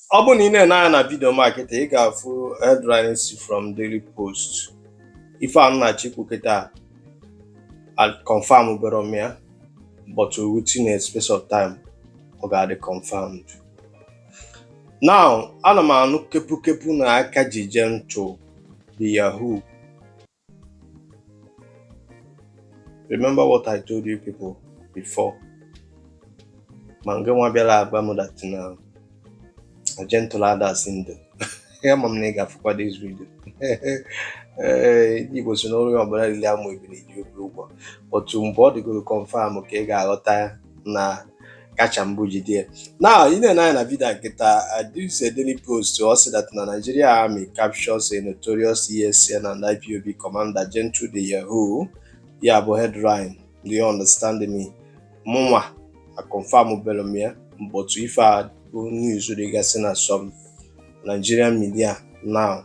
ọ bụrụ na ị na-ene anya na vidio m a kịta ị ga-afụ headline si from Daily Post ife a m na-achọ ikwu kịta akonfam bero m ya but within a space of time ọ ga-adị confirmed now ana m anụ kepukepu na aka ji Gentle the Yahoo Remember what I told you people before. ma nke nwa bịara agwa m dat na Gentle a dịsị ndụ ama m na ị ga-afụkwa dis vidio ndị Igbo sị na onye ọbụla riri amụ ebini ji ibi ụgwọ but mgbe ọ dịgoro kọnfam ka ị ga-aghọta na kacha mbụ jide now ị nee anya na vidio a kịta this Daily Post ọ sị that na Nigeria army captures a notorious ESN and IPOB commander Gentle the Yahoo ya bụ headline do you understand me mụnwa akonfam bero m ya but ife a bụ news dịgasị na some Nigerian media now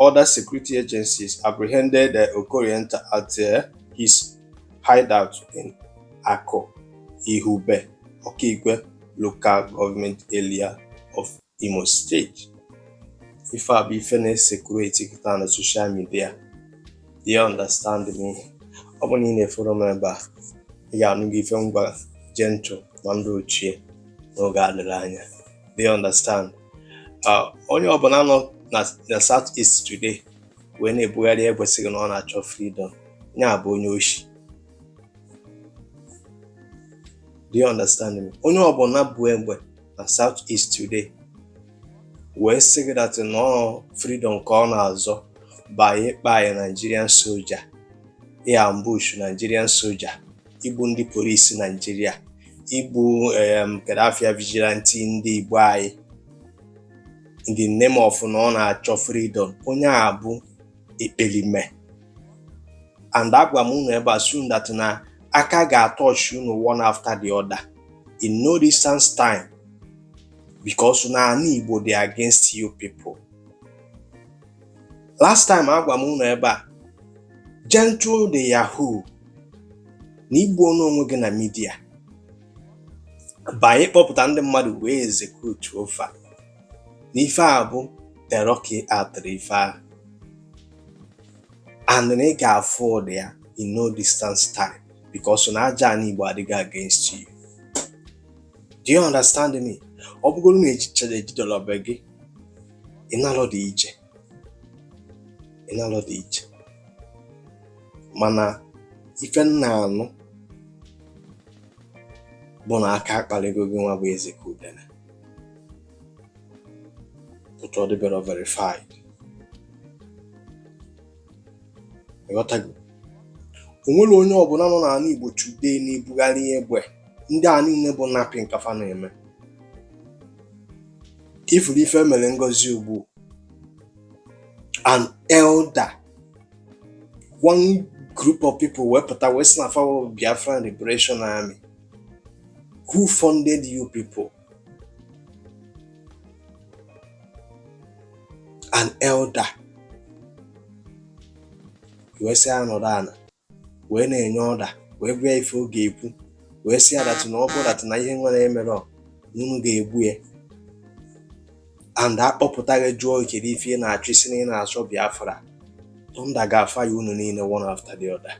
other security agencies apprehended uh, Okorienta at uh, his hideout in Aku Ihube, Okigwe local government area of Imo State. ife a bụ ife na-esekuleti kịta na social media, do you understand me? ọ bụ na ị na-eforo m ebe a ị ga-anụgo ife m gwa Gentle na ndị ochie n'oge adịrọ anya do you understand onye ọbụla nọ na south east today wee na-ebugharị egbe sị gị na ọ na-achọ freedom onye a bụ onye oshi do you understand me onye ọbụla bu egbe na south east today wee sị gị dat na ọ freedom ka ọ na-azọ by ịgba Nigerian soja iambush Nigerian soja igbu ndị polisi Naijiria igbu kedafia vigilanti ndị Igbo anyị in the name of na ọ na-achọ freedom onye a bụ ekperime and agwa m unu ebe a soon that na aka ga-atọchi unu one after the other in no distance time because na ana Igbo dị against you people last time agwa m ụnụ ebe a Gentle the Yahoo na i gbuona onwe gị na midia by na ị kpọpụta ndị mmadụ wee ezekutuo fa na ife a bụ terọki atịrị ife a and na ị ga-afụ ụdị ya in no distance time because na aja ana Igbo adịgo against you do you understand me ọ bụgoro na ejicha ejidelobe gị ịnalọ dị iche ịnalọ dị iche mana ife m na-anụ bụ na aka akpaligo gị nwa bụ eze ka udene but ọ dịbere verified ịghọtago o nwere onye ọbụla nọ n'ala Igbo today na-ebugharị egbe ndị a niile bụ napping ka fa na-eme ifuru ife mere Ngozi Ugbu an elder one group of people wepụta wee sị na fa bụ Biafran Liberation Army who funded you people an elder wee sị ya nọrọ ana wee na-enye order wee gwa ya ife ọ ga-ekwu wee sị ya that na ọ bụrụ that na ihe nwere emere unu ga-egbu ya and a kpọpụta gị jụọ kedu ife ị na-achọ ị sị na ị na-achọ Biafra thunder ga-afire unu niile one after the other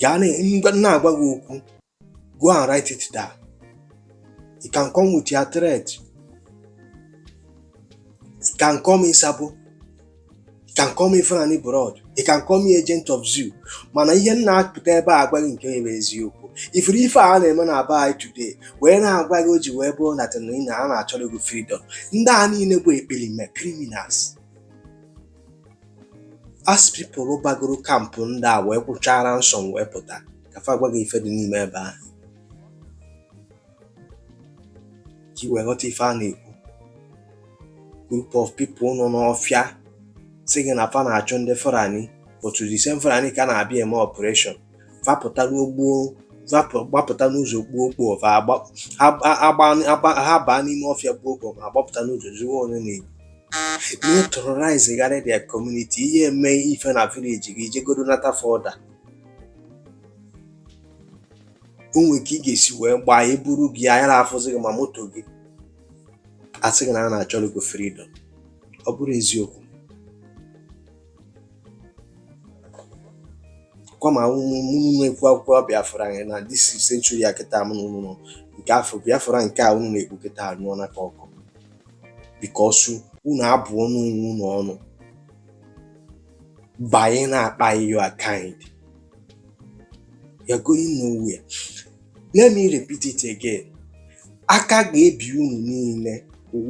gaa na-agwa gị okwu go and write it down you can come with your threat you can call me sabo you can call me Fulani blood you can call me agent of zoo mana ihe m na-apụta ebe a agwa gị nke bụ eziokwu ifuru ife a na-eme na be anyị today wee na-agwa gị o ji wee bụrụ that na a na-achọrọ gị freedom ndị a niile bụ ekperima criminals ask people bagoro camp ndị a wee kwụchaa ransom wee pụta ka fa gwa gị ife dị n'ime ebe ahụ ka i wee ghọta ife a na-ekwu group of people nọ n'ọfịa sị gị na fa na-achụ ndị Fulani but the same Fulani ka na-abịa eme operation fa pụta n'ogbuo gbapụta n'ụzọ gbuo okpo ha baa n'ime ọfịa gbuo okpo ma gbapụta n'ụzọ zuo onye na-egbu na-terrorizegharị their community i je eme ife na village gị jegodo nata fọda o nwee ka ị ga-esi wee gbaa e buru gị anya na-afụzi gị ma moto gị a sị gị na a na-achọrọ gị freedom ọ bụrụ eziokwu kwama unu ekwu akwụkwọ Biafra anyị na this century a kịta m n'ụlọ nke afọ Biafra nke a unu na-ekwu kịta anyụọna ka ọkụ because unu abụọna onwe unu ọnụ banye na-akpa your kind you're going nowhere let me repeat it again aka ga-ebi unu niile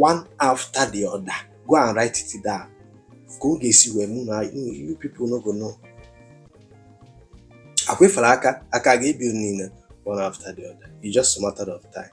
one after the other go and write it down ka ọ ga-esi wee mee na you people no go know akwefere aka aka ga-ebi unu niile one after the other it's just a matter of time